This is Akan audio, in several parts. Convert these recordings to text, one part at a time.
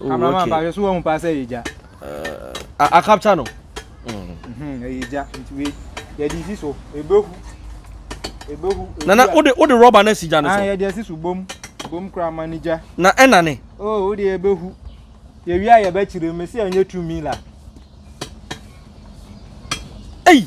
Camera man ba hwɛ so wahu paa sɛ ɛyɛ gya. Ah, a capture no. Mhm, ɛyɛ gya nti wei yɛde esi so ebehu ebehu. Nana o de o de rɔba na esi gya no so. Ah, yɛde esi so bom bom kura ma ne gya. Na ɛna ne. Oh, o de ebehu yɛwi a yɛbɛkyerɛ mu esi ɛnyɛ tu mi la. Ei.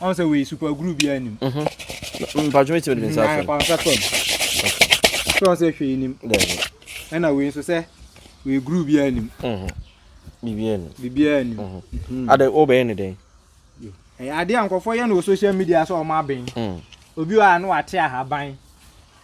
Ɔn sɛ wei super glue biara nim. Mhm. Mpatwo mɛtumi de me nsa afam. Nsa fam. Sɛ ɔn sɛ hwee nim. Ɛna wei nso sɛ wei glue biara nim. Mhm. Biribiara nim. Biribiara nim. Mhm. Mhm. Adɛ wobɛyɛ ne dɛn? Ɛyɛ adeɛ a nkurɔfoɔ yɛ no wɔ social media sɛ ɔma aben. Mm. Obi wɔ a na wate ahaban.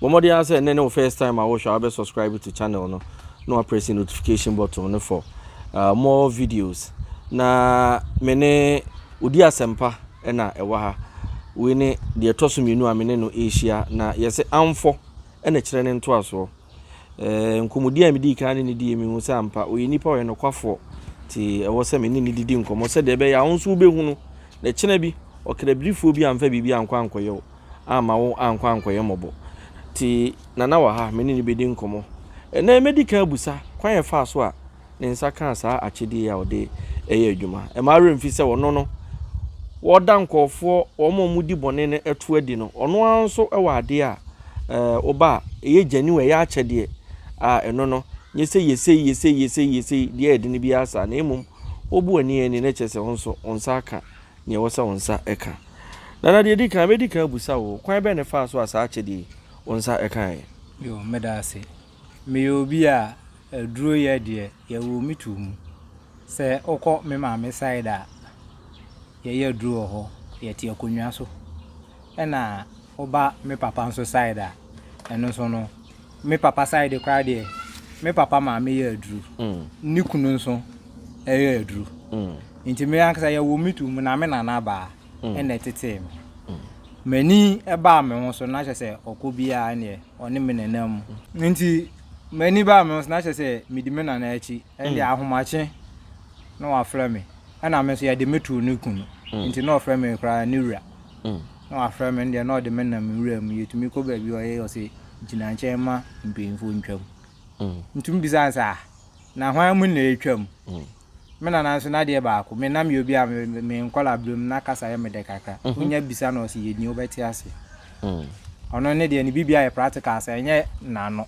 Bɔ mmɔden ara sɛ nnɛ ne wo first time a wohwɛ a wobɛ subscribe to channel no na wa press notification button no for uh, more videos na me ne odi asɛmpa ɛna ɛwɔ ha wei ne deɛ ɛtɔ so mmienu a me ne no ɛrehyia na yɛsɛ amfɔ ɛna kyerɛ ne ntoasoɔ eh, nkɔmmɔdi a medii kan ne ne die mehu sɛ ampa ɔyɛ nipa ɔyɛ nokwafoɔ nti ɛwɔ sɛ me ne ne didi nkɔmmɔ sɛdeɛ ɛbɛyɛ a wo nso wobɛhunu na kyena bi ɔkrabirifoɔ bi amfa biribi ankɔ ankɔyɛ wo amma wo annkɔ annkɔyɛ mmɔbɔ. Tse Nana wɔ ha, menye no bedi nkɔmbɔ. Ndɛ mebedi kan ebusa kwan a yɛfaa so a ne nsa kãa saa akyɛdze yi a ɔdze yɛ edwuma. Mma awerɛ mmfi sɛ ɔno no, wɔda nkorɔfoɔ, wɔn a wɔdi bɔne no to adi no, ɔno ara nso wɔ adeɛ a ɔba a ɛyɛ genuine, ɛyɛ akyɛdeɛ a ɛno no, nyɛ sɛ yɛ sei, yɛ sei, yɛ sei, yɛ sei, deɛ ɛyɛ den biara saa, na mmom wobu ani ani na ɛkyerɛ sɛ wo nso wo nsa aka Nea ɛwɔ sɛ wo nsa ka. Dada, deɛ ɛdi kan, mɛdi kan abusa wo, kwan bɛn na ɛfaa so a saa akyɛdeɛ yi, wo nsa kaeɛ? Yoo, meda ase. Meyɛ obi a aduruyɛ deɛ, yɛwoo me too mu. Sɛ wokɔ me maame side a, yɛyɛ aduro wɔ hɔ, yɛte akonnwa so. Ɛna woba me papa nso side a, ɛno nso no. Me papa side koraa deɛ, me papa maame yɛ aduru. Ne kunu nso yɛ aduru. Nti me ankasa yɛwɔ me tu mu na me nana baa ɛna ɛtetee me. M'ani baa me ho so na kyɛ sɛ ɔkɔ biara neɛ ɔne me nenam mu. Nti m'ani baa me ho so na kyɛ sɛ medi me nana akyi. Ɛnde ahomakye na wafrɛ me. Ɛna me nso yɛde me too ne kunu. Nti na ɔfrɛ me koraa ne wura. Na wafrɛ me no deɛ na ɔde me nam nwura mu yɛtumi kɔ baabi ɔyɛ ɔse gyina nkyɛn ma mpanyinfoɔ ntwam ntumi bisa no sɛ ah na hwan mu na ɛretwam me nana nso n'adeɛ baako me nam yɛ obi a me nkɔla berɛm na kasa yɛ me dɛ kakra wonya bisa no ɔse yɛni wobɛte aseɛ ɔno ne deɛ ne biribi ayɛ practical sɛ ɛnyɛ nano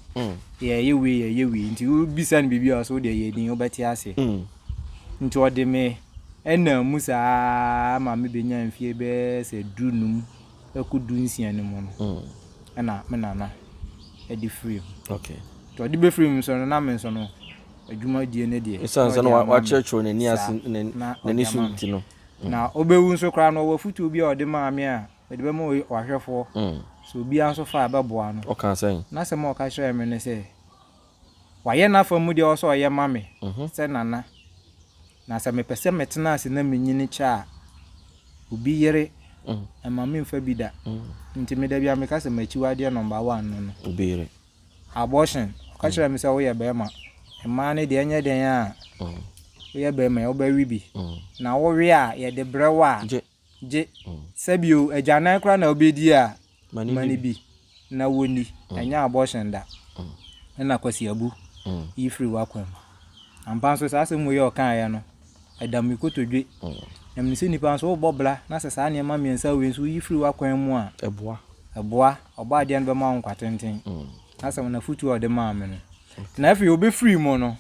yɛyɛ wei yɛyɛ wei nti wobisa no biribi a ɔse wodeɛ yɛni wobɛte aseɛ Nti ɔde me ɛnam mu saa ara ma me bɛnya mfie bɛyɛ sɛ du num ɛku du nsia no mu no ɛna me nana ɛde firi mu. Okay. Nti ɔde bɛfiri mu nso no na me nso no adwuma die no deɛ. Ɛsan sɛ na wakyerɛkyerɛ n'ani ase n'ani so nti no. Na ɔbɛwu nso koraa no ɔwɔ afutuo bi a ɔde maa me a mede bɛma ɔhwɛfoɔ sɛ obiara nso fa a ɛbɛboa no. Ɔkaa sɛn? N'asɛm a ɔka kyerɛɛ me ne sɛ. Wayɛ n'afa mu deɛ ɔwɔ sɛ ɔyɛ ma me sɛ nana, na sɛ mepɛ sɛ metena ase na menyini kyɛ a, obi yere mma memfa bi da. Nti me da biara meka sɛ m'akyiwadeɛ number one no no. Obi yere. Abortion. Ɔka kyerɛɛ me sɛ woyɛ barima, mmaa no deɛ ɛnyɛ dɛn a woyɛ barima a wobɛwe bi, na wowe a yɛde brɛ wo a. gye sɛ bio agyanan koraa na wobɛdi a ma no bi na wɔnni ɛnyɛ abortion da ɛna Kwasi Abu yi firi w'akwan mu ampa nso saa asɛm wei ɔkaeɛ no ɛda me kotodwe na mene sɛ nnipa nso wobɔ bra na sɛ saa nneɛma mmiɛnsa wei nso woyi firi w'akwan mu a ɛboa ɛboa ɔbɔ adeɛ no bɛma wo nkwa tenten asɛm no afotuo a ɔde maa me no na afei wobɛfiri mu no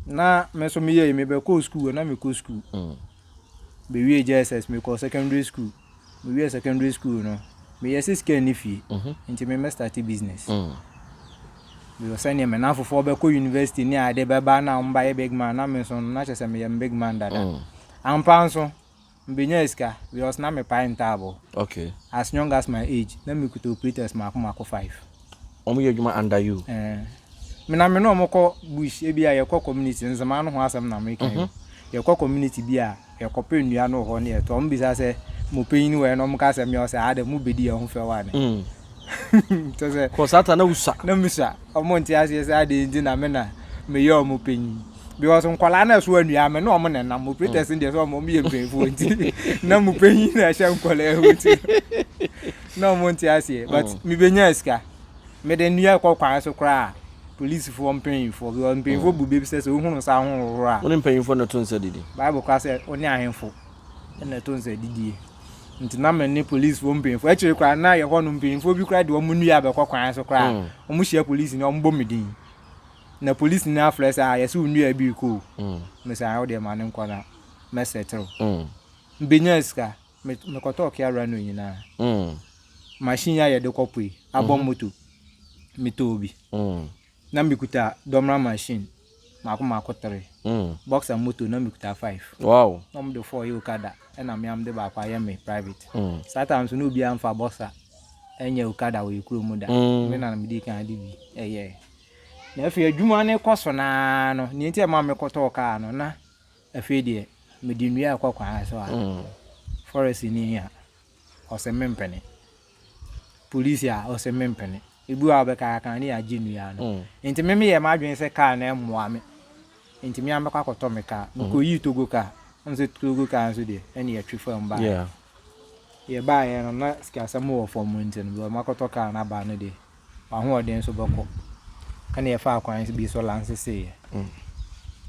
na me nso meyɛ yi mebɛkɔɔ sukuu na mekɔ sukuu mm. mewie jss mekɔɔ secondary school mewie secondary school no meyɛ sɛ sika nni fie mhm. nti memɛstarte business mm. meyɛ sɛneɛ me nafofoɔ bɛkɔ university ne ade bɛba na ɔmbayɛ big man na me nso no na kyɛ sɛ meyɛ me big man dada mm. ampa nso Mebɛnyaa sika because na mepae ntaaboo. Okay. As young as my age, na mekuta operators mmaako mmaako five. Wɔn yɛ adwuma under you? Ɛɛ. Me na me ne wɔn kɔ bush, ebi a yɛkɔ community, Nzemaa no ho asɛm na meka yi o. Yɛkɔ community bi a, yɛkɔpɛ nnua no wɔ hɔ na yɛtɔ. Wɔn bisa sɛ, Mo panyin wɔ he? Na wɔka sɛ, Me a, ɔsɛ, Haa dɛ, mobɛdi yɛn ho fɛw ane? Kyɛsɛ. Kɔ saa ta na wusua. Na misua. Ɔmo nte aseɛ sɛ adɛn nti na me na meyɛ ɔmo panyin. Because nkwadaa no ɛso anua me ne ɔmo na ɛnam. Operators no deɛ sɛ ɔmo yɛ mpanyinfoɔ nti na mo panyin na ɛhyɛ nkwadaa yi mu ti. Na ɔmo nte aseɛ but mebenya sika. Mede nnua kɔ kwan so koraa polisifoɔ mpanyinfoɔ because mpanyinfoɔ bu bɛ bi sɛ sɛ wohunu nsa ahohohoro a. Wo ne mpanyinfoɔ na to nsa didi. Bible koraa sɛ wo ne ahemfo. Ɛna ɛto nsa adidie. Nti na me ne policefoɔ mpanyinfoɔ akyire koraa na yɛ hɔ no mpanyinfoɔ bi koraa de wɔn nnua abɛkɔ kwan so koraa. Mm. Wɔn hyia polisi ni wɔn bɔ me din. Na polisi ni afrɛ sɛ a ah, yɛsɛ wo nnua bi rekɔ o. Mm. Mesa ayɛ ah, wo deɛ ma ne nkɔ na mɛsɛ terew. Mm. Mbenya sika mekɔtɔ ɔkea awura no nyinaa. Mm. Machine a yɛde kɔ pue abɔ mm-hmm. moto metɔɔ bi. Mm. na mekuta dɔmra machine mako mako three, mm. boxer moto na mekuta five. Wow. na wɔn de four yɛ okada ɛna mmeam de baako ayɛ me private. Mm. saa time so na obiara nfa boxer ɛnyɛ okada wɔ ekuro mu da. Mm. me na me di kan de bi ɛyɛ. na afei adwuma no kɔ so naa no nea nti ɛma me kɔtɔɔ kaa no na afei deɛ mede nnua ɛkɔ kwan so a mm. forest ni a. ɔse mempene. Police a, ɔse mempene. Ebi wɔ a ɔbɛka yɛaka ne yɛagye nnua no. Mm. Nti me meyɛ m'adwene sɛ kaa no mmoa me. Nti me amɛkɔ akɔtɔ me kaa. Mm. Mekɔyii Togo kaa. Ɔno sɛ Togo kaa nso deɛ, ɛne yɛtwe fam baa. Yeah. Yɛbaeɛ no na sikasɛm wɔ fam nti no, bɛ makɔtɔ kaa no aba no deɛ, w'ahoɔden nso bɛkɔ ɛna yɛfaa kwan bi so lanseseeɛ mm.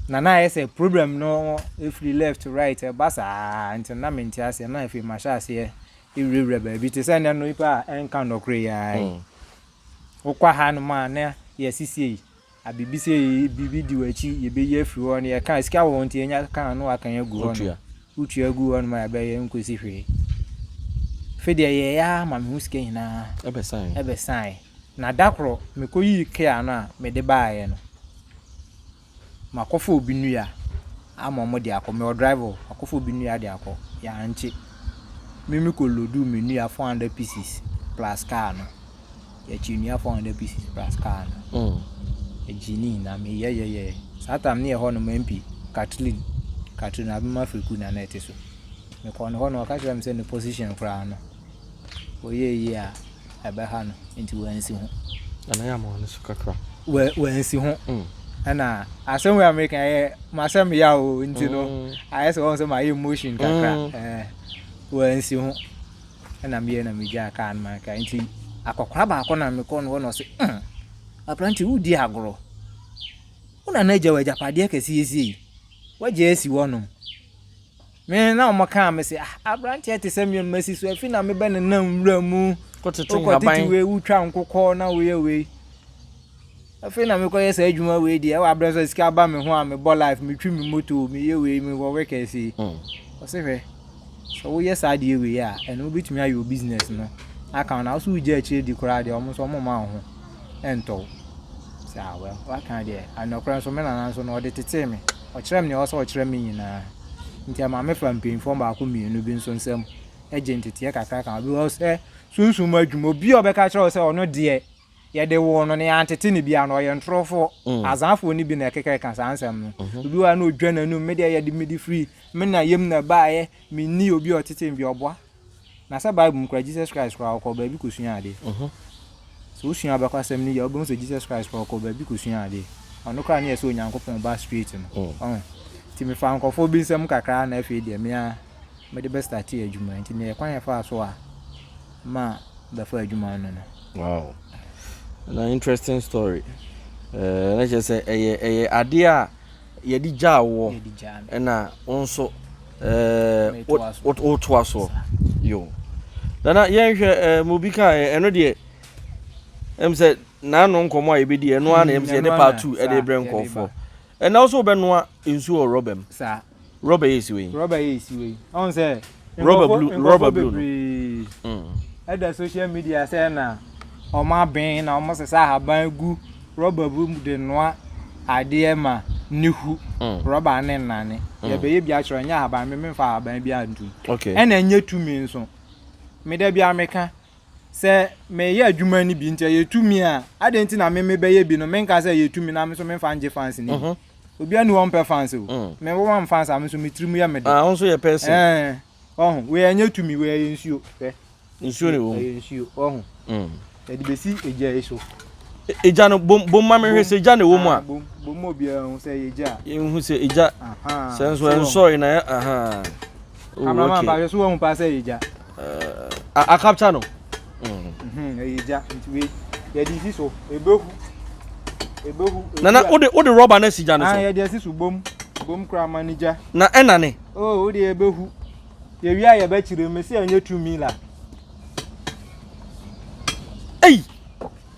na na ayɛ sɛ problem no ɛfiri left to right ɛba saa nti na mente aseɛ na afei mahyɛ aseɛ ɛwurawura baabi te sɛ nnɛ no nipa a ɛnka nnɔkore yɛa mm. wokɔ ha no ma na yɛasisie yi abibisɛ yi biribi di w'akyi yɛbɛyi afiri hɔ no yɛka sika wɔ nti yɛnya kaa no akan agu hɔ no wotua agu hɔ no ma yɛbɛyɛ nkɔsi hwee fe deɛ yɛyɛ a ma mehu sika nyinaa ɛbɛsae na da korɔ mekɔyii kea no a mede baeɛ no makɔfa obi nnua ama ɔmo de akɔ mewɔ driver akɔfa obi nnua de akɔ yɛankye me mekɔ lodu me nnua 400 pieces plus kaa no yɛkyeɛ nnua four hundred pieces plus car no ɛgye ne nyinaa meyɛyɛyɛ saa tam ne yɛ hɔ no ma mpi katlin katlin abɛma firiku na na ɛte so mekɔ no hɔ no ɔka kyerɛ me sɛ ne position koraa no wɔyɛ yie a ɛbɛha no nti wɔansi ho ɛna yɛ ama no so kakra wɔansi ho mm. ɛna asɛm wɔ amerika yɛ masɛm ya o nti no mm. ayɛ sɛ wɔn sɛ mayɛ motion kakra mm. wɔansi ho Ɛna meyɛ na megyaa kaa no ma kaa nti akɔkora baako na mekɔ no hɔ na ɔse mm aprante wodi agorɔ wo na na agya wɔ agyapadeɛ kɛse yɛsie yi wagya asi hɔ nom me na wɔn kaa me se ah abranteɛ te sɛ mmea mmasi so afi na mebɛ ne nam wura mu wokɔtete wei wotwa nkokɔ na woyɛ wei Afei na mekɔyɛ saa adwuma wei deɛ ɛwɔ aberɛ sɛ sika ba me ho a mebɔ life metwi me moto meyɛ wei mewɔ wekɛse yi ɔse hwɛ sɛ woyɛ saa deɛ wei a ɛno wobɛtumi ayɛ wo business no aka wo na wo so wogya akyire di koraa deɛ ɔmo so ɔmo ma wo ho ɛntɔ wo sɛ awɛ waka deɛ anɔkorɛ nso me nana nso no ɔde tetee me ɔkyerɛ me deɛ ɔsɛ ɔkyerɛ me nyinaa nti ɛma me fa mpanyinfoɔ baako mmienu bi nso nsɛm ɛgye nteteɛ kakra ka obi wɔ sɛ sunsun mu adwuma obi a ɔbɛka kyerɛ wo sɛ ɔno deɛ Yɛde woo no na yɛantete no biara no, ɔyɛ ntorofoɔ. Azaafoɔ no bi na ɛkeka ka saa nsɛm no. Obi wɔ ha na ɔdwa n'anum, me deɛ yɛde mede firi me na yam na ɛbaeɛ, menni obi a ɔtetee me biara, ɔboa. Na sɛ Bible mu koraa, Jesus Christ koraa, ɔkɔɔ baabi kɔsuaa adeɛ. Sɛ wosua abakɔsɛm no yie a, wobɛhu sɛ Jesus Christ koraa, ɔkɔɔ baabi kɔsuaa adeɛ. Ɔno koraa ne yɛ sɛ Onyankopɔn Ba straight no. Ɔho. Nti mefaa nkurɔfoɔ bi nsɛm kakra na afei deɛ me ara mede bɛstartee adwuma. Nti deɛ kwan a ɛfaa so a, ma bɛfa adwuma no no. Wow na interesting story ɛɛ na kyerɛ sɛ ɛyɛ ɛyɛ adeɛ a yɛde gyaa woɔ ɛna wo nso ɛɛ wotoa soɔ yo nana yɛnhwɛ ɛɛ mo bi ka ɛno deɛ ɛm sɛ n'ano nkɔmɔ a yɛbɛdi ɛno ara na ɛm sɛ yɛde part two ɛde brɛ nkɔfoɔ. Ɛnna wo nso wobɛnoa nsuo wɔ rɔba mu. Saa. Rɔba yɛ esiwe yi. Rɔba yɛ esiwe yi. Ɔn sɛ. Rɔba blue rɔba blue no. Nkɔfo bebree ɛda social media sɛ na wɔn aben na wɔn sesa ahaban gu rɔba bi mu de noa adeɛ ma ne hu. Rɔba ne nnane. Yɛbɛyɛ bi akyerɛ nyɛ ahaban me menfa ahaban bi antum. Ɛna nyɛ tumi nso. Me da biara meka Sɛ meyɛ adwuma no bi nti ɛyɛ tumi a, adɛn nti na me mebɛyɛ bi no menka sɛ ɛyɛ tumi na me nso memfa ngye fans no bi? Obiara ni hɔ ɔmpɛ fans o. Me wo mam fans a me nso me tiri mu yɛ me de. Ah, wo nso yɛ person. Ɛɛ, ɔho, wei ɛnyɛ tumi, wei ɛyɛ nsuo. Hwɛ. Nsuo ne wɔ mu. Ɛyɛ nsuo, ɔho. Yɛde bɛsi egya yi so. Egya no, bom, bom ma mehwɛ sɛ egya na ɛwɔ mu a. Bom, bom ma obiara hu sɛ ɛyɛ egya. Yɛnhu sɛ egya. Aha. Sɛ nso ɛnsɔre na, aha. Camera man ba so wɔn pa sɛ yɛ gya. A capture no. Mhm, yɛ gya nti we yɛ di si so ebehu ebehu. Nana o de o de rɔba na si gya no so. Ah yɛ di esi so bom bom kura ma ni gya. Na ɛna ne. Oh o de ebehu yɛ wia yɛ bɛ kyerɛ mu si yɛ nye tu mi la. Ei.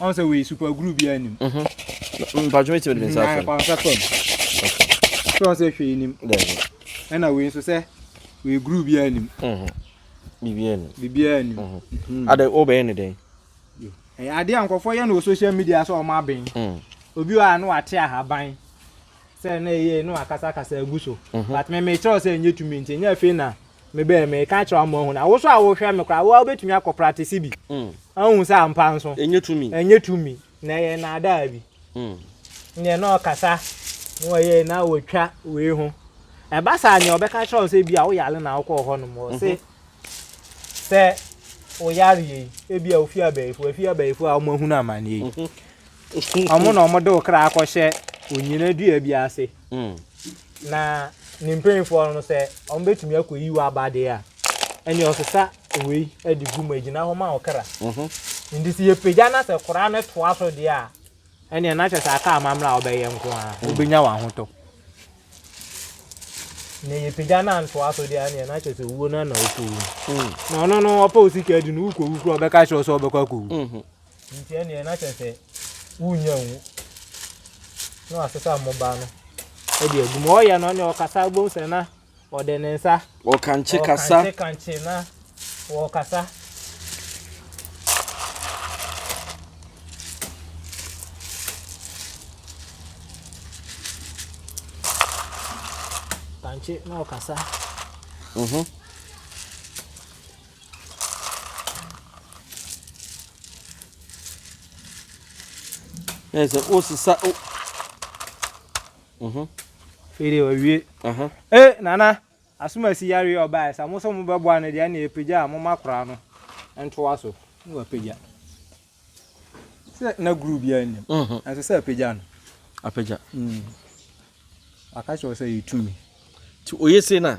Ɔn sɛ wei super glue bi a nim. Mhm. Mpatwo mi ti mi de mi nsa afɛm. Ayɛ nsa fɛm. Sɛ ɔn sɛ hwɛ nim. Dɛbi. Ɛna wei nso sɛ wei glue bi a nim. Mhm. Bibi a nim. Bibi a nim. Mhm. mhm. Ade o bɛyɛ ne dɛn? Ɛyɛ ade a nkɔfoɔ yɛ no wɔ social media sɛ ɔmo aben. Mm. Obi wɔ a no wate ahaban sɛ na ɛyɛ no akasakasa agu so. Mhm. But me mekyerɛw sɛ ɛnyɛ tumi nti ɛnyɛ afei na me bɛɛ me ka kyerɛ ama ɔhu na wo so a wo hwɛ me koraa wo a wobɛtumi akɔ pratisi bi mm. ahu sɛ ampa nso ɛnyɛ tumi na ɛyɛ naadaa bi mm. neɛ na ɔkasa na ɔyɛ na wɔtwa wei ho ɛba saa neɛ ɔbɛka kyerɛ wo sɛ bi a woyare na wokɔɔ hɔ nom ɔse mhm. sɛ woyareɛ yi ebi a wofi abayifo afi abayifo a wɔahu no amanneɛ yi mhm. ɔmo na ɔmo de wo kra akɔhyɛ onyina dua bi ase mm. Na ne mpanimfoɔ no sɛ wɔbɛtumi akɔyi wo aba deɛ a, ɛnneɛ ɔsesa wei de gu mu agyina hɔ ma wo kra. Mhm. Nti sɛ yɛpagya no sɛ koraa no toa so deɛ a, ɛnneɛ na kyerɛ sɛ aka amammerɛ a wobɛyɛ nko a mm. wobɛnya w'ahotɔ. Na yɛpagya no antoa so deɛ ɛnneɛ na kyerɛ sɛ wuo no na wokɔwu. Mm. Na ɔno no ɔpɛ wo sika di no wokɔwu koraa ɔbɛka kyerɛ wo sɛ wobɛkɔ akɔwu. Mhm. Enti ɛnneɛ na kyerɛ sɛ wonnya nwu. Na wasesa mmobaa no de agu mu. Ɔyɛ no ne ɔkasa wobɛhu sɛ na ɔde ne nsa. Ɔkankye kasa. Ɔkankye kankye na wɔkasa. Kankye na ɔkasa. Mhm. Ẹ sẹ o sisa o. Mhm. Fede owie. Aha. Eh nana, asomasi yare ọba ẹ sa mo sọ mo bẹ bọ ane deɛ ne epagya a mo ma kora no ntoa so. Ne wa pagya. Sɛ na guru bi a nim. Mhm. Nso sɛ apagya no. Apagya. Mm. Aka kyerɛ sɛ yɛ tumi. Ti oye se na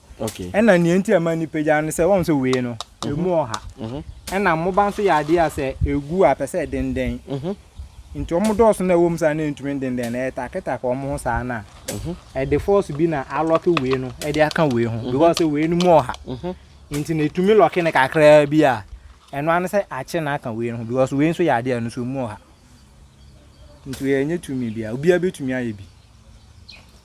Okay. Ɛna nea nti a ɛma nnipa gya no sɛ wɔn sɛ wei no mhm. emu ɔha. Mhm. Ɛna mmoba nso yɛ adeɛ a sɛ egu a pɛ sɛ ɛdendɛn. Mhm. Nti wɔn dɔɔso na ɛwɔ mu saa na ntumi dendɛn na ɛtaketake wɔn ho saa na ɛde fɔɔso bi na alɔke wei no ɛde aka wei ho because sɛ wei no mu ɔha. Nti na etumi lɔke no kakraa bi a ɛno ano sɛ akye na aka wei no ho because wei nso yɛ adeɛ a ɛno nso mu ɔha. Nti yɛnyɛ tumi bia obiara betumi ayɛ bi.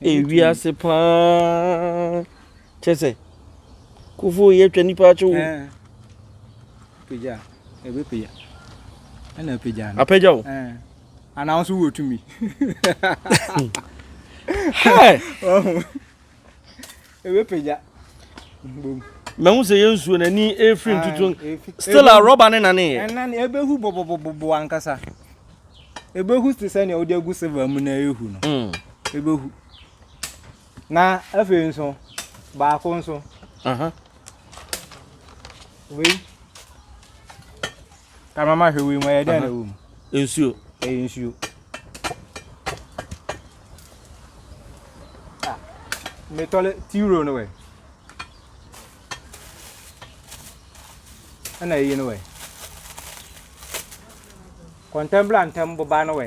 Ewiase paa kyɛ sɛ kofo yɛ twa nipa akyew. Eh. Pagya, ebe pagya. Ɛna apagya no. Apagya o. Eh. Ana nso wo tumi. Hey. Oh. Ebɛpagya mbom. Mahu sɛ yɛn nsuo no ani refiri ntutu still a rɔba ne nane yɛ. Ɛnane ɛbɛhu bɔbɔbɔbɔ ankasa. Ɛbɛhu te sɛ nea wode agu silver mu na ɛrehu no. Ɛbɛhu. Na afei nso baako nso. Wei. Ka mama hwɛ wei mu ɛyɛ dɛn na ɛwɔ mu? Nsuo. Ɛyɛ nsuo. Ah, metɔle tiro no wɛ. Ɛna ɛyi no wɛ. Kɔntɛmbla ntɛm boba no wɛ.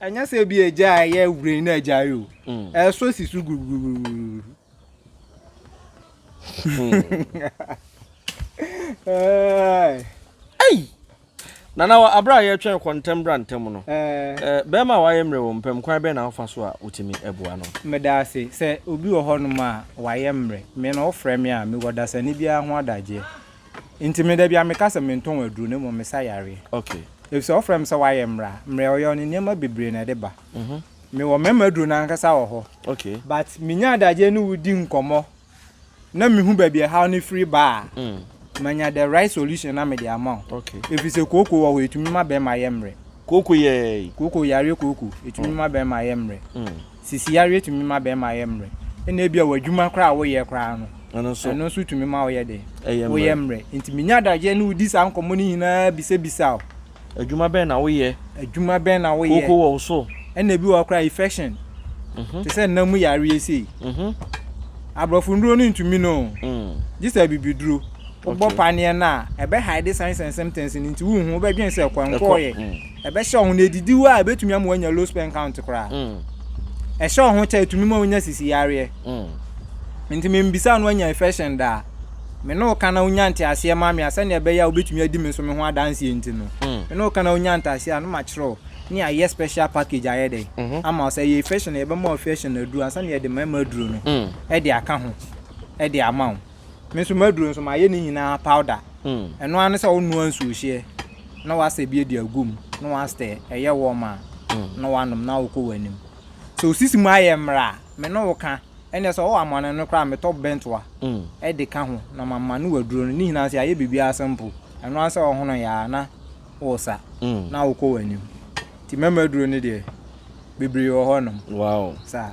Ɛnyɛ sɛ ebi agya a ɛyɛ wureni na agya yi o. Ɛsɔ si so guruguruguru. Ei! Nana wɔ abere a yɛtwɛn kɔ ntɛm bra ntɛm no, bɛrima a wayɛ mmerɛ wɔ mu pɛm, kwan bɛn na wofa so a wotumi boa no? Meda ase. Sɛ obi wɔ hɔnom a wayɛ mmerɛ, me na ɔfrɛ me a, mewɔ dasani biara ho adagyeɛ. Nti me dabi a meka sɛ mentɔn aduro na mmom mesa yareɛ. Okay. Efisɛ wɔfrɛ me sɛ wayɛ mmra. Mmra a wɔyɛ no nneɛma bebree na ɛde ba. Mewɔ mmarima aduro no ankasa wɔ hɔ. Okay. But menya adagyeɛ ne wo di nkɔmmɔ na mehu baabi a ɛhaw no firi ba a, manya the right solution na mede ama wo. Okay. Efisɛ kooko wɔ hɔ, ɛtumi ma bɛrima yɛ mmerɛ. Kooko yɛ? Kooko, yareɛ kooko, ɛtumi ma bɛrima yɛ mmerɛ. Sisi yareɛ tumi ma barima yɛ mmerɛ. Ɛna ebia wɔ adwuma koraa a woyɛ koraa no, ɛno nso, ɛno nso tumi ma woyɛ dɛ. Woyɛ mmerɛ. Nti menya adagyeɛ ne wodi saa nkɔmmɔ no nyinaa bisabisa wo. Adwuma bɛn na woyɛ? Adwuma bɛn na woyɛ? Kooko wɔ wo so? Ɛna ebi wɔ hɔ koraa infection. Mhm. Te sɛ nna mu yareɛ sei. Mhm. Aborɔfo nnuro no ntumi no. Mm. Gye sɛ abibiduro. Wobɔ paneɛ no a, ɛbɛhaede signs and symptoms no nti wonhu, wobɛdwene sɛ ɛkɔ, ɛnkɔɔyɛ. Mm. Ɛbɛhyɛ wo ho na edidi wo a ebetumi ama wanya low sperm count koraa. Ɛhyɛ wo ho kyɛ etumi ma wonya sisi yareɛ. Nti membisaa no anya infection da a. Me ne wo ka na wonya nteaseɛ ma me a sɛnea ɛbɛyɛ a wobetumi adi me nso me ho adanseɛ nti no. Me ne wo ka na wonya nteaseɛ a na makyerɛ wo ne yɛayɛ special package ayɛ dɛn ama wo sɛ ɛyɛ infection a yɛbɛma wo infection aduro ansa na yɛde mmarima aduro no de aka ho de ama wo. Me nso m'aduro nso mayɛ ne nyinaa powder. Ɛno ara ne sɛ wonoa nsuohyeɛ na wasɛ bi adi agu mu na wasɛ ɛyɛ wɔm a na wanom na wokɔ w'anim. Sɛ osisi mu ayɛ mmerɛ a, me ne wo ka. Ɛnneɛ sɛ ɔwɔ amane no koraa a, metɔ bɛntoa de ka ho na mamane w'aduro no. Ne nyinaa nso yɛayɛ biribiara simple. Ɛno ara ne sɛ wohono yɛ a na wosa na wokɔ w'anim. Nti mɛma aduro no deɛ, bebree wɔ hɔnom. Saa.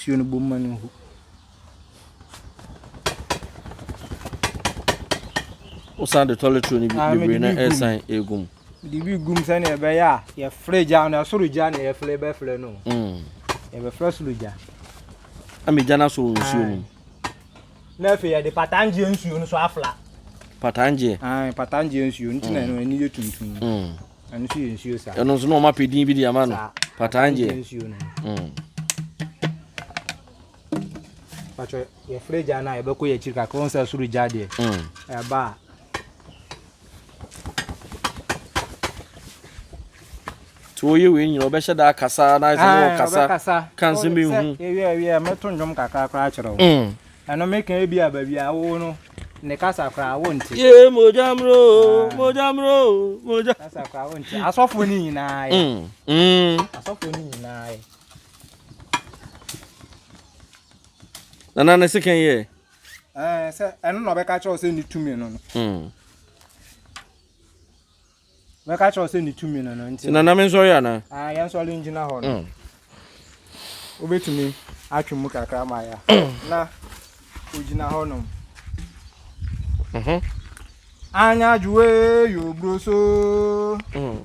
Nsuo no bɔ mu ma no gu. Wosan de toilet roll no bi bebree na ɛresan egu mu. Mede bi gum sɛnea ɛbɛyɛ a yɛfrɛ gya no ɛsoro gya na yɛfrɛ bɛfrɛ no mm. yɛbɛfrɛ soro gya ɛma gya no asɔ wɔ nsuo no mu na afei yɛde patangyeɛ nsuo no so afla patangyeɛ patangyeɛ nsuo nti na mm. ɛno ani yɛ tuntum mm. ɛno nso yɛ nsuo saa ɛno nso na ɔma pɛ din bi de ama no patangyeɛ nsuo no Pacho, your free jana, you beko your chika, come say suru jade. Mm. Eh, ba. To you win, you be shada kasa, na is no kasa. Kasa. Can't see me. Yeah, yeah, me to njom kakra kra chero. Mm. Ano me kan bi aba bi awo no. Ne kasa kra wo nti. Ye mojamro, mojamro, moja. Kasa kra wo nti. Asofo ni nyina ye. Mm. Mm. Asofo ni nyina ye. nana ne sekan yɛ ɛɛ sɛ ɛno na ɔbɛka kyerɛ wo sɛ ne tumi no no hmm. bɛka kyerɛ wo sɛ ne tumi no no nti nana me nsɔre anaa ah, yɛn nsɔre ngyina hɔ no hmm. wobɛtumi atwe mu kakra ma ya hmm. na ogyina hɔ nom mhm. anya adwoe yɛ oburo so mm.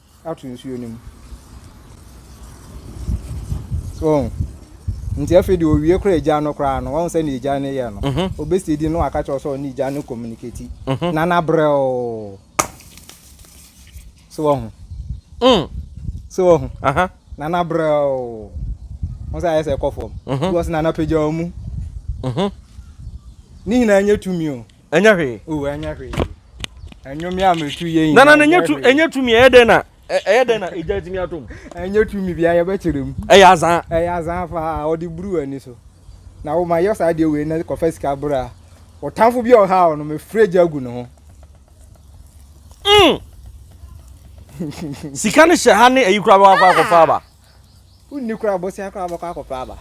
ato nsuo no mu. So wɔn nti afei deɛ owie kora agya no koraa no wɔn sɛ ne agya no yɛ no mhm. obesi di no waka kyerɛ sɛ ɔne agya no communicate mhm. na nabrɛ o so wɔn mm. so wɔn na nabrɛ o wɔn sɛ ayɛ sɛ ɛkɔ fam mhm. because na napagya wɔn mu ne nyinaa nyɛ tumi o. Ɛnyɛ hwee. Oh, ɛnyɛ hwee. Ɛnyɛ mi a metu yɛ nyina. Nana, ɛnyɛ tu, ɛnyɛ tu mi, ɛyɛ dɛn na, ɛyɛ dɛn na egya tumi atom? Ɛnyɛ tu mi bia yɛbɛkyerɛ mu. Ɛyɛ azan. Ɛyɛ azan paa, ɔde buru w'ani so. Na wo ma yɛ saa deɛ wei na kɔfa sika bra. Ɔtamfo bi a ɔha ɔno, mefrɛ gya gu ne ho. Mm. Sika ne hyɛ ha ne ayi kura bɛwɔ akɔ akɔfa aba. Wonni koraa bosea koraa bɛkɔ akɔpɛ aba.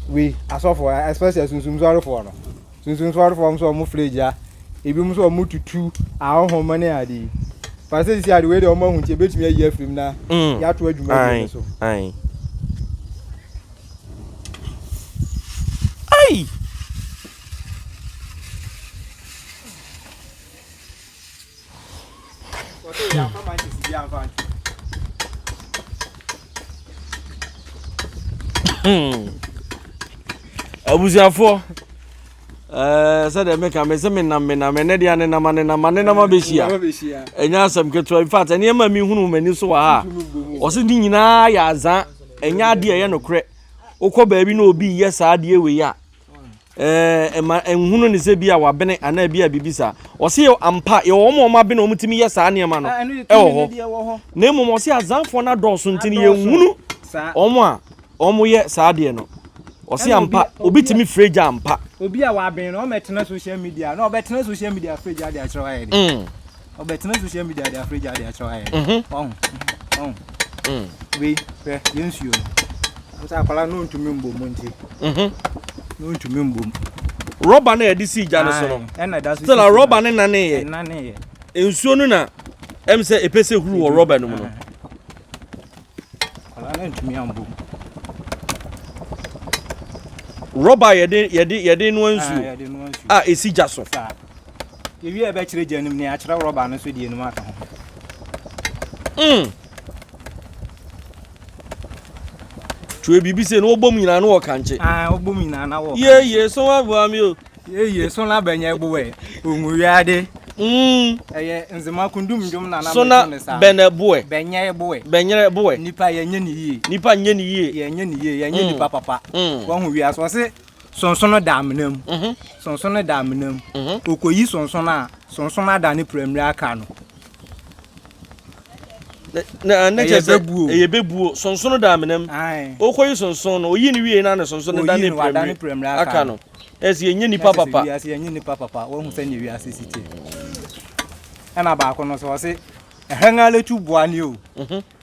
Wei asɔfo especially sunsun sɔrefoɔ no sunsun sɔrefoɔ nso wɔn fila gya ebi nso wɔn tutu ahohoma ne ade yi pàṣẹ sisi ade wei de wɔn ahu nti ebetumi ayi afirim na mm. yɛato adwuma bi ne so. Ayi. Hmm. abusuafoɔ eh, sɛdeɛ meka me sɛ menam menam ɛnɛ deɛ anenam anenam anenam abɛhyia ɛnyɛ asɛm ketewa infact ɛnneɛma mehunu m'ani so wɔ ha a ɔse ne nyinaa yɛ azaa ɛnyɛ adeɛ ɛyɛ nokorɛ wokɔ baabi na obi yɛ saa adeɛ wei a Eh, ɛma nhunu ne sɛ bi a wabene anaa bi a biribi saa. Ɔse yɛ ampa, yɛwɔ wɔn a wɔn abene wɔn tumi yɛ saa nneɛma no ɛwɔ hɔ. Na mmom ɔse azanfoɔ no adɔɔso nti no yɛnhunu wɔn a wɔn yɛ saa deɛ no. Ɔse ampa, obi tumi firi gya ampa. Obi a wabene no, ɔmɛtena social media, na ɔbɛtena social media firi gya de akyerɛ hɔ ayɛ de. Mm. ɔbɛtena social media de afrɛ gya de akyerɛ ayɛ mhm. ɔho ɔho mm. wei hwɛ yɛ nsuo no sɛ akwala no ntumi mbom mu nti mhm. no ntumi mbom rɔba no a yɛde sii gya no so no sɛ na rɔba no naneyɛ nsuo no na ɛm sɛ ɛpɛ sɛ huru wɔ rɔba no mu no rɔba yɛde yɛde yɛde noa nsuo a ɛsi gya so Yɛwie a ɛbɛkyerɛ gya no mu na yɛakyerɛ rɔba no so deɛ no mu aka ho. Mm. Twerɛ biribi sɛ na wɔbɔ mu nyinaa na wɔkankye. Ah, wɔbɔ mu nyinaa na wɔkankye. Yeye so aboa me o. Yeye so na bɛnyɛ boɛ. Onwuwiade. Mm. Ɛyɛ nzema kundum ndwom na na so na bɛnɛ boɛ. Bɛnyɛ boɛ. Bɛnyɛ boɛ. Nipa yɛnyɛ ne yie. Nipa nyɛ ne yie. Yɛnyɛ ne yie. Yɛnyɛ mm. nipa papa. Mm. Wɔn ho wiase wɔn se. sonsono da amena mu mhm. sonsono da amena mu mhm. okoyi sonsono a sonsono ada ne piramire aka no ɛyɛ bɛbuo ɛyɛ bɛbuo sonsono da amena mu okoyi sonsono no oyi ne wie na ne sonsono da ne piramire aka no ɛsɛ yɛnyɛ nipa papa ɛsɛ yɛnyɛ nipa papa wɔn ho sɛ ne wiase si tie ɛna baako no sɛ ɔse ɛhɛn alɛtu boa ne o mhm.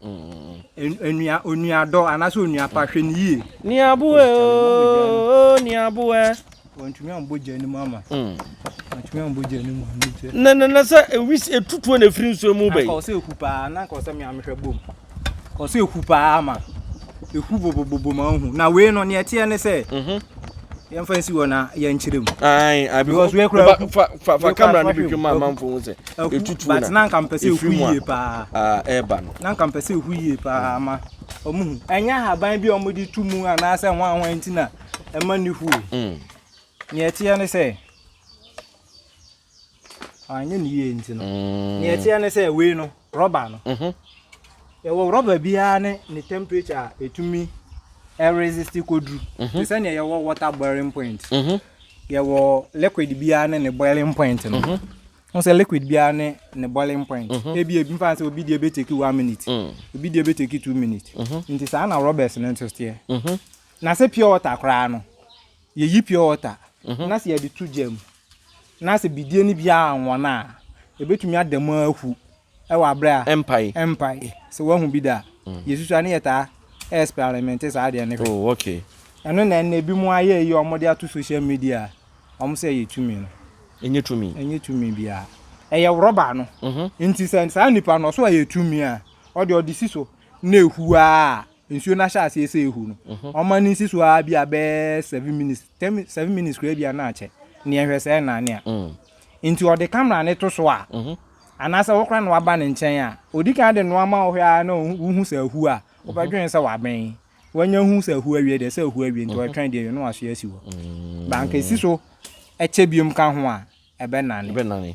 Onua onua dɔ anaasɛ onua pa hwɛ no yie. Niaboɛ ooo niaboɛ. Wɔntumi ambɔ gya no mu ama. Mm. Wɔntumi ambɔ gya no mu ano gya. Na na na sɛ ewis etutuo na efiri nsuo mu bɛyi. Na kɔsɛ eku paa na kɔsɛ mi amehwɛ bom. Kɔsɛ eku paa ama. Ehu bobobobo ma ohu. Na wei no nea ɛteɛ ne sɛ. Mhm. Yɛmfa nsi hɔ na yɛnkyerɛ mu. Ayi abi. Because wei kura ehu. Fa fa fa kamera no bi twɛ mu ama nfo ho sɛ. Etutu na. But na nka mpɛ sɛ ehu yie paa. Ah ɛɛba no. Na nka mpɛ sɛ ehu yie paa ama wɔn hu. Ɛnyɛ ahaban bi a wɔn de tu mu anaasɛ ho ahoa nti na ɛma ne hu o. Mm. Nea ɛteɛ ne sɛ. Anyɛ no yie nti no. Mm. Nea ɛteɛ ne sɛ wei no rɔba no. Mhm. Yɛwɔ rɔba biara ne ne temperature a ɛtumi ɛresist kɔduru. Mhm. Te sɛ nea yɛwɔ water boiling point. Mhm. Yɛwɔ liquid biara ne ne boiling point no. Mhm. Ho sɛ liquid biara ne ne boiling point. Mhm. Ebi ebi nfa sɛ obi deɛ bɛteki one minute. Mm. Obi deɛ bɛteki two minutes. Mhm. Nti saa na rɔbɛs no nso teɛ. Mhm. Na sɛ pure water koraa no, yɛyi pure water. Mhm. Na sɛ yɛde to gya mu. Na sɛ bidie no biara anwɔn a, ɛbɛtumi ada mu ara ahu wɔ aberɛ a Ɛmpae. ɛmpae. Sɛ woahu bi da a, yɛsusu a ne yɛtaa ɛɛspɛrɛmɛnte saa adeɛ no hwɛ. Oh, ok. Ɛno na ɛnnɛ binom ayɛ yi a wɔde ato social media a wɔn sɛ ɛyɛ tumi no. Ɛnyɛ tumi. Ɛnyɛ tumi biara. Ɛyɛ rɔba no nti. Sɛ saa nipa no ɔso ɛyɛ tumi a, ɔdeɛ ɔde si so na ɛhu ara a, nsuo no ahyɛ aseɛ sɛ ɛhu no mhm. ɔma no nsi so ara bi a bɛyɛ seven minutes ten seven minutes koraa bi a na akyɛ neɛ hwɛ sɛ ɛna ne a mm. nti ɔde kamera ne to so a mhm. anaasɛ wokora na waba ne nkyɛn a ɔdi kan de noa ma wohwɛ ara na wohu sɛ ahu a wobɛdwene sɛ wabɛn wanya hu sɛ ahu awie deɛ sɛ ahu awie nti ɔtwɛn mhm. deɛ yɛ no waso asi hɔ mm. banka ɛsi so ɛkyɛ biom ka ho a ɛbɛnane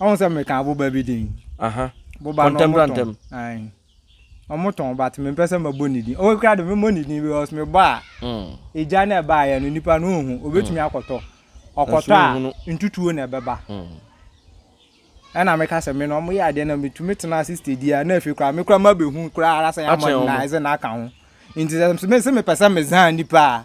Ɔhu sɛ meka boba bi din. Aha. Boba no ɔmo tɔn. Ae. Ɔmo tɔn but me mpɛ sɛ mɛbɔ ne din. Ɔwɔ kura de mɛmɔ ne din because me bɔ a. Mm. Egya na ɛba ayɛ no nipa no ohu obetumi mm. akɔtɔ. Ɔkɔtɔ a ntutuo na ɛbɛba. Mm. Ɛna meka sɛ me no ɔmo yɛ adeɛ na metumi tena ase steady a na efi kura me kura ma behu kura ara sɛ yamɔ na ɛsɛ na aka ho. Nti sɛ me sɛ mepɛ sɛ mezan nipa a.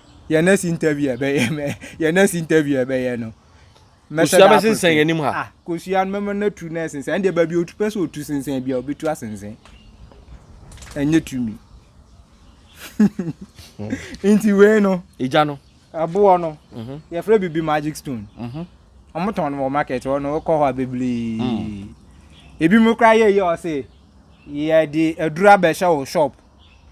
yɛn next interview a ɛbɛyɛ mɛ yɛn next interview a ɛbɛyɛ no. kosua bɛ sensɛn yɛn nim ha. ah kosua no mɛma no atu na ɛsensɛn ɛndeɛ baabi otu pɛ sɛ otu sensɛn bi a obetu asensɛn ɛnyɛ tumi nti wei no. egya no. ɛboɔ no mhm. yɛfrɛ bibi magic stone mhm. wɔn tɔn no wɔ market hɔ no kɔ hɔ a bebree mm. ebi mu kora yɛ yɛ ɔse yɛde adura bɛhyɛ wɔ shop.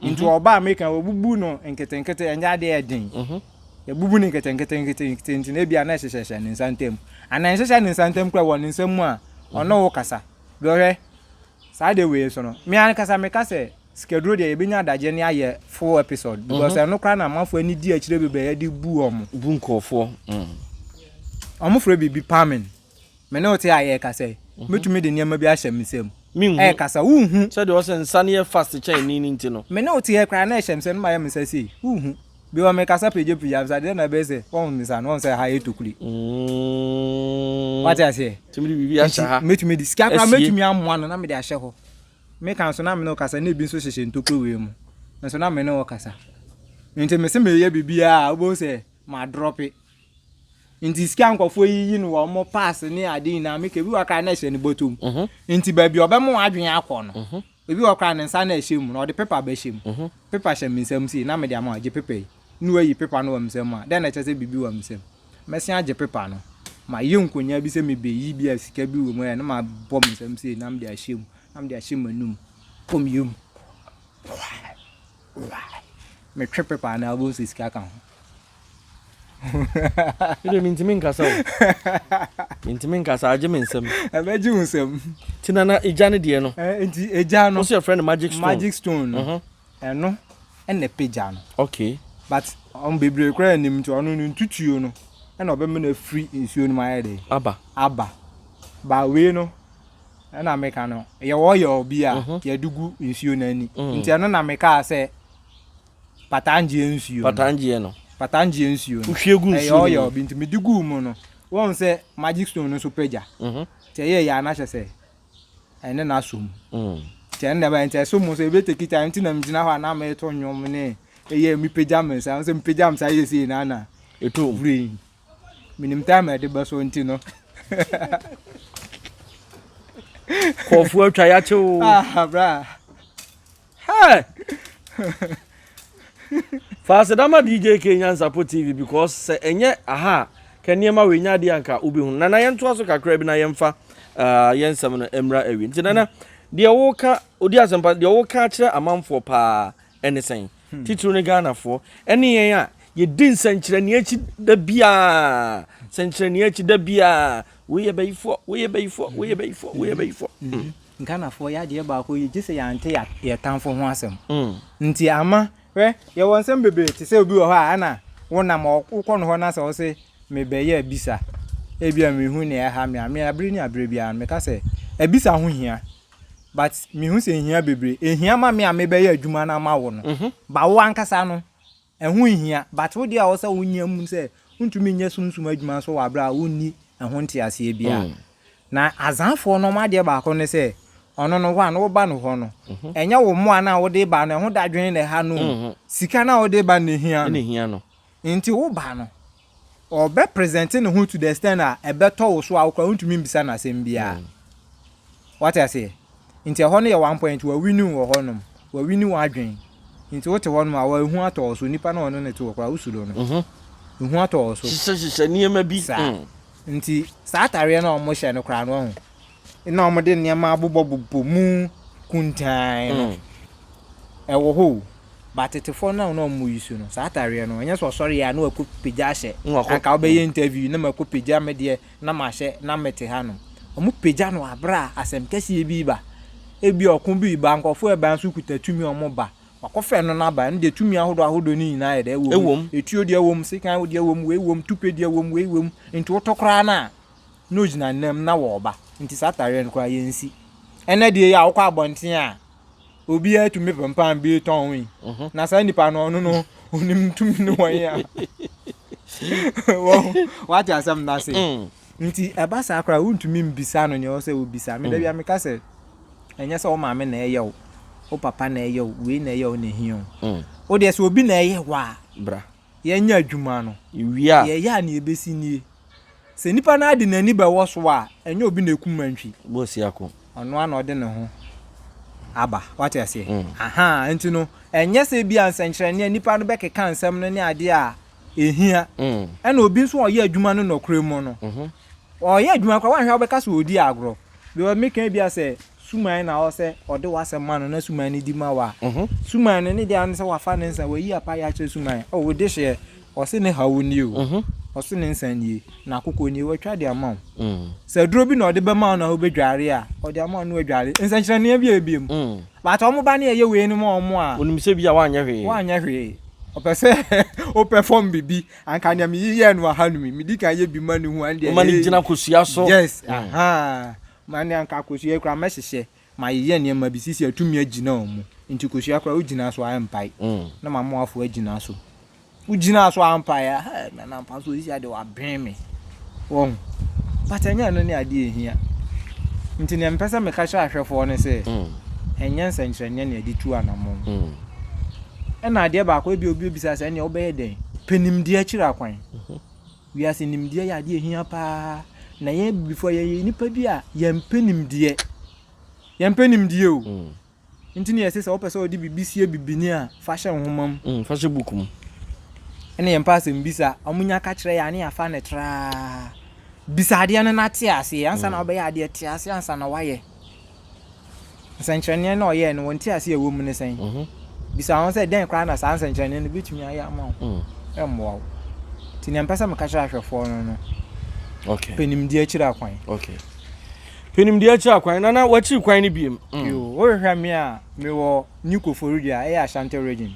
Nti Mhm. ɔba Amerika no wɔbubu no nketenkete ɛnyɛ adeɛ yɛ den. Mhm. Yɛbubu no nketenkete nketenkete nti na ebia na ɛhyehyɛhyɛ ne nsa ntam. Anaa ɛnhyehyɛ ne nsa ntam kora wɔ ne nsam mu a ɔne wo kasa. Deɛ ɔhwɛ saa de wei so no me ankasa meka sɛ sikaduro deɛ yɛbɛnya adagyeɛ ne ayɛ full episode because Mhm. ɛno koraa na amanfoɔ ani di akyire bebree de bu wɔn. Bu nkurɔfoɔ. Mm. wɔn frɛ biribi palming Me ne wo te a yɛrekasa yi, mhm. metumi de nneɛma bi ahyɛ me nsam. Ɛrekasa, wohu. Sɛdeɛ ɔsɛ nsa no yɛ fast kyɛn ni no nti no. Me ne wo te yɛ koraa na ɛhyɛ me sɛ no ma yɛ me nsa sei, wohu. Bi wɔ mekasa pagyapagya me sa deɛ na ɛbɛyɛ sɛ wɔhu me sa no wɔn sɛ ha yɛ tokuli. Mm. Wate aseɛ? Tumi de biribi ahyɛ ha. Metumi de sika koraa metumi amoa no na mede ahyɛ hɔ. Meka nso na me ne wo kasa na ebi nso hyehyɛ ntokuro wei mu. Nso na me ne wo kasa. Nti mese meyɛ biribiara a wobɛhu sɛ madrɔpe. nti sika nkɔfoɔ yi yi no wɔ ɔmo pass ne ade nyinaa meka ebi wɔ koraa na ɛhyɛ ne bɔtɔ mu mhm. nti baabi a ɔbɛma wadwene akɔ no mhm. ebi wɔ koraa ne nsa na ɛhyɛ mu na ɔde pepa bɛhyɛ mu mhm. pepa hyɛ me nsam sei na mede ama ɔgye pepa yi ne wayi pepa no wɔ me nsam mu a dɛn na ɛkyɛ sɛ biribi wɔ me nsam mɛsen agye pepa no mayɛ nkonyaa bi sɛ mebɛyi bi a sika bi wɔ mu ɛ na mabɔ me nsam sei na mede ahyɛ mu na mede ahyɛ m'anum kɔ me yam metwe pepa no abom sɛ sika ka ho Me deɛ mentumi nkasa o. Mentumi nkasa, agye me nsam. Ɛbɛgye wo nsam. Nti na na egya no deɛ no. Eh, nti egya no. Wosɛ yɛfrɛ no magic stone. Magic stone no. Mhm. Ɛno ɛna ɛpagya no. Okay. But ɔmo bebree koraa nim nti ɔno no ntutuo no ɛna ɔbɛma no afiri nsuo no mu ayɛ dɛ. Aba. Aba. Ba wei no ɛna meka no yɛwɔ yɛwɔ bi a mhm. yɛde gu nsuo no ani. Mm. Nti ɛno na mekaa sɛ Patangyeɛ nsuo no. Patangyeɛ no. Patangyeɛ nsuo no. Wohwie gu nsuo no mu. Ɛyɛ ɔyɛ bi nti mede guu mu no, woahu sɛ magic stone no nso pagya. Mhm. Nti ɛyɛɛ yɛ a na kyerɛ sɛ ɛne no asɔ mu. Mm. Nti ɛno na ɛbaeɛ nti ɛso mu nso ebe take time nti na megyina hɔ a na mereto nnwom ne ɛyɛ mepagya me nsa. Wohu sɛ mepagya me nsa yɛ sei na na Ɛtɔ mu. brain. Menim time a ɛde bɛsɔ nti no. Kɔɔfoɔ atwa yɛakye o. Ah, bra. Hey! Fa aseda ma DJ K Nyansapɔ TV because sɛ ɛnyɛ aha a, ka nneɛma wei nyɛ adeɛ anka wobɛhu. Nana yɛntoa so kakra bi na yɛmfa uh, yɛn nsɛm no mmra awi. Nti Nana, deɛ woka, odi asɛmpa, deɛ woka akyerɛ amanfoɔ paa ɛne sɛn? Hmm. Titiriw ne Ghanafoɔ, ɛne yɛn a yɛdi nsɛnkyerɛnneɛ akyi da biara, sɛnkyerɛnneɛ akyi da biara, woyɛ bayifoɔ, woyɛ bayifoɔ, woyɛ bayifoɔ, woyɛ bayifoɔ. Hmm. Hmm. Ghanafoɔ yɛ adeɛ baako yi gye sɛ yɛante yɛn tamfo ho asɛm mm. nti ama hwɛ yɛwɔ nsɛm bebree te sɛ obi wɔ hɔ a ɛna wonam wokɔ no hɔ na sɛ wo se mebɛyɛ abisa ebia mehu ne ɛha me a me abere ne abere biara meka sɛ abisa ho hia but mehu sɛ ehia bebree ehia ma me a mebɛyɛ adwuma no ama wo no mhm. ba wo ankasa no Ɛho nhia, but wo deɛ a ɛwɔ sɛ wo nya mu sɛ wontumi nyɛ sunsum adwuma nso wɔ aberɛ a wonni ɛho nteaseɛ biara. Na Azanfoɔ no wɔn adeɛ baako ne sɛ, ɔno no one wo ba no hɔ no, ɛnyɛ wo mmoa no a wode reba no, ɛho dadwene na ɛha no o, sika no a wode reba no na ɛhia no. Nti wo ba no, Ɔbɛ present ne ho to the extent a ɛbɛtɔ wo so a wo koraa wontumi mbisa no asɛm biara. Wate aseɛ? Nti ɛhɔ no yɛ one point, wa winning wɔ hɔ nom, wa winning w'adwen. Nti wote hɔ nom a wa ehu atɔ wo so, nipa no a ɔne no te hɔ koraa wo suro no. Mhm. Ehu atɔ wo so. Hyehyɛ hyehyɛ nneɛma bi. Saa. Mm. Nti saa atareɛ no a wɔhyɛ no koraa no wahu. na wɔde nneɛma abobɔbobɔ mu kuntann no, ɛwɔ hɔ o. Ba tetefoɔ no a na wɔn yi so no, saa atareɛ no, ɛnyɛ sɛ ɔsɔre yɛ a na wakɔ pagya ahyɛ. Anka wobɛyɛ interview na makɔ pagya me deɛ na mahyɛ na mete hanom. Wɔn pagya no aberɛ a asɛm kɛseɛ bi ba. Ebi ɔko bi ba, nkurɔfoɔ ɛba nso kuta tumi wɔn ba. Wakɔfɛ no no aba, ɛno deɛ tumi ahodoɔ ahodoɔ no nyinaa yɛ dɛ ɛwɔ mu. Etuo deɛ ɛwɔ mu, sekan deɛ ɛwɔ mu, wei wɔ mu, tupe deɛ ɛwɔ mu, wei wɔ mu. Nti wotɔ koraa no a. na ogyina nnam na wɔreba nti saa atareɛ no koraa yɛnsi ɛnɛ deɛ yi a wokɔ abɔnten a obiara tumi pempam bi tɔn yi mhm. na saa nipa no ɔno no onim tumi no wɔn a wate asɛm no ase mm. nti ɛba saa koraa wontumi mbisa no nea ɔsɛ wobisa meda mm. bia meka sɛ ɛnyɛ sɛ wo maame na ɛyɛ wo wo papa na ɛyɛ wo wei na ɛyɛ wo na ɛhia wo mm. wodeɛ sɛ obi na ɛyɛ wo a yɛnyɛ adwuma no, deɛ ɛyɛ a nea ɛbɛsi nie, Sɛ nipa no ara de n'ani bɛwɔ so a, ɛnyɛ obi na ɛkum nantwi. Ɔno ara na ɔde ne ho aba. Wate aseɛ? Mm. Aha, nti no, ɛnyɛ sɛ bi a nsɛnkyerɛnneɛ nipa no bɛkeka nsɛm no ne adeɛ a ɛhia. Mm. Ɛna obi nso a ɔyɛ adwuma no nɔkorɛ mu no, mm-hmm. ɔyɛ adwuma koraa wanhwɛ wobɛka sɛ ɔdi agorɔ. Because meka bi a sɛ suman na ɔsɛ ɔde w'asɛm ma no na suman no di ma wo a, suman no ne deɛ ne sɛ wafa ne nsa, wayi apa yɛ akyerɛ suman, oh, wode hyeɛ, ɔse ne haw nie o, ɔse ne nsa nie, n'akokɔ nie, watwa de ama wo. Mm. Sɛ aduro bi na ɔde bɛma wo na wobɛdware a, ɔde ama wo na wadware. Nsɛnkyerɛnneɛ bi a ɛbie mu. Mm. But wɔn ba ne ɛyɛ wei no ma wɔn a. Wonim sɛ bi a woanyɛ hwee. Woanyɛ hwee. Ɔpɛ sɛ wopɛ fam biribi. Anka nea meyeyɛɛ no aha no mi, medi kan yɛ bi ma ne hu andeɛ. Woma ne gyina kosua so. Yes, mm. aha. Ma nea anka kosua yi koraa mɛhyehyɛ mayeyɛ nneɛma bi sisi atumi agyina wɔn mu nti kosua koraa wogyina so a ɛmpae na mamoafo agyina so wogyina so a mpae a hɛ nana mpa so sisi ade waben me wɔn but ɛnyɛ ɛno ne adeɛ ɛhia nti nea mepɛ sɛ meka kyerɛ ahwɛfoɔ no sɛ ɛnyɛ nsɛnkyerɛnneɛ na ɛde tu anamɔn ɛna adeɛ baako ebi obi obisa sɛ ɛnea wobɛyɛ dɛn pɛ nimdeɛ akyiri akwan Wiase nimdeɛ yɛ adeɛ a ɛhia pa ara, na yɛn Abibifoɔ yɛyɛ nnipa bi a yɛmpɛ nimdeɛ. Yɛmpɛ nimdeɛ o. Mm. Nti na yɛse sɛ wopɛ sɛ wode biribi sie bibini a, fa hyɛ nwoma mu. Mm, fa hyɛ book mu. Ɛna yɛmpɛ asɛmbisa. Wɔnya ka kyerɛ yɛn a, na yɛafa no traa. Bisa adeɛ no na te aseɛ ansa na mm. wobɛyɛ adeɛ, te aseɛ ansa na woayɛ. Nsɛnkyerɛnneɛ no a ɔyɛɛ no, wɔn nteaseɛ a ɛwɔ mu ne sɛn? Bisa wɔn sɛ, dɛn koraa na saa nsɛnkyerɛnneɛ no bɛtumi ayɛ ama wo? Ɛmmoa wo. Nti deɛ mpɛ sɛ meka kyerɛ ahwɛfoɔ no no, okay. pɛ nimdeɛ akyiri akwan. Okay. Pɛ nimdeɛ akyiri akwan, na na wakyiri kwan no biem. Mm. Yo, wohwehwɛ me a, mewɔ New Koforidua, ɛyɛ Ashanti region.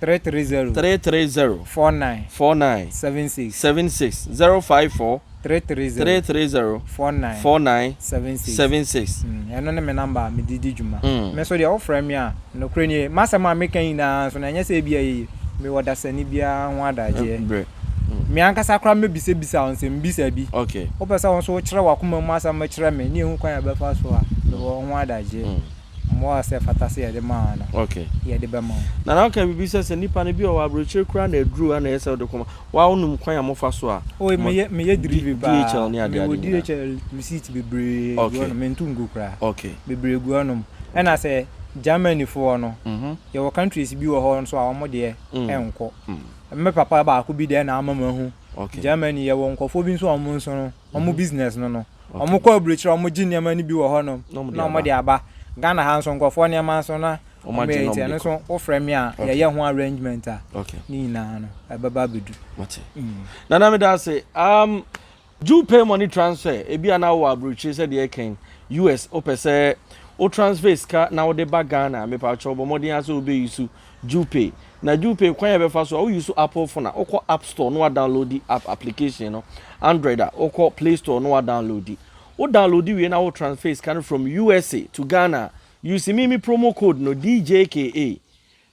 Three three zero. Three three zero. Four nine. Four nine. Seven six. Seven six. Zero five four. Three three zero. Three three zero. Four nine. Four nine. Seven six. Seven six. Mm, ɛno ne me namba a mede di dwuma. Mm. Me nso deɛ wofrɛ me a, nokorɛ nie, m'asɛm a meka nyinaa nso no, ɛnyɛ sɛ ebi a ɛyɛ yie. Mewɔ dasani biara ho adagyeɛ. Eh, brɛ. Mm. Me ankasa koraa mɛbisabisa wo nsɛmbisa bi. Okay. Wopɛ sɛ wo nso wokyerɛ w'akoma mu asɛm kyerɛ me ne yɛhu kwan a yɛbɛfa so a, mewɔ ho adagyeɛ. Mm. mmoa a ɛsɛ fata sɛ yɛde ma wɔn no, yɛde bɛma wɔn. Nana ɔka biribi sɛ, sɛ nipa no, bi wɔ hɔ a aburokyire koraa na aduru hɔ na ɛyɛ sɛ wode kɔma. Waa wonim kwan a mofa so a mo DHL ne adeade nyinaa. Meyɛ delivery paa, mewɔ DHL receipt bebree gu hɔnom, mentu ngu koraa. Bebree gu hɔnom. Ɛna sɛ Germany foɔ no, yɛwɔ countries bi wɔ hɔ nso a wɔn deɛ ɛnkɔ. Me papa baako bi deɛ na ama mahu. Germany yɛwɔ nkurɔfoɔ bi nso a wɔn nso no, wɔn business no no. Ɔmo kɔ abirikyiri ɔmo gye nneɛma no bi wɔ hɔ nom na ɔmo de aba. Ghana ha nso nkorɔfoɔ nneɛma nso na ɔmo yɛ nti ɛno nso wo frɛ me a yɛyɛ ho arrangement a ne nyinaa no ɛbɛba abɛdu. Mate. Nana meda ase. Um, do you pay money transfer? Ebi a na wowɔ aburokyire sɛ deɛ ɛkɛn US wopɛ sɛ wo transfer sika na wode ba Ghana mepatwɛ bɔ mmɔden a sɛ wobɛ use Djupay. Na Djupay kwan a yɛbɛfa so a wo use so Apple phone a wo kɔ app store na wa downloadi app application no, Android a wo kɔ play store na wa downloadi. Wo downloadi wie na wo transfer sika no from usa to Ghana a, use me me promo code no DJKA,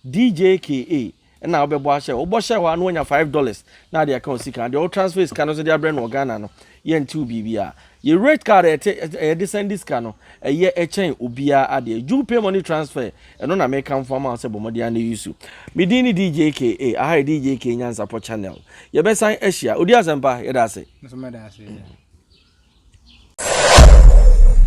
DJKA, ɛna wo bɛbɔ ahyɛ hɔ. Wo bɔ hyɛ hɔ a na wanya five dollars na ade aka wo sika no. Deɛ wo transfer sika no nso de abrɛ no wɔ Ghana no, Yɛntew biribiara. Yɛ rate card a ɛte a yɛde san di sika no, ɛyɛ ɛkyɛn obiara adeɛ. Juul Pay Money Transfer, ɛno na mekamfo ama wo sɛ bɔ mmɔden ara na use. Me din ne DJ KA. Aha yɛ DJ KA Nyansapɔ Channel. Yɛbɛsan ahyia. Odi Asɛmpa, yɛda ase. Me nso meda ase.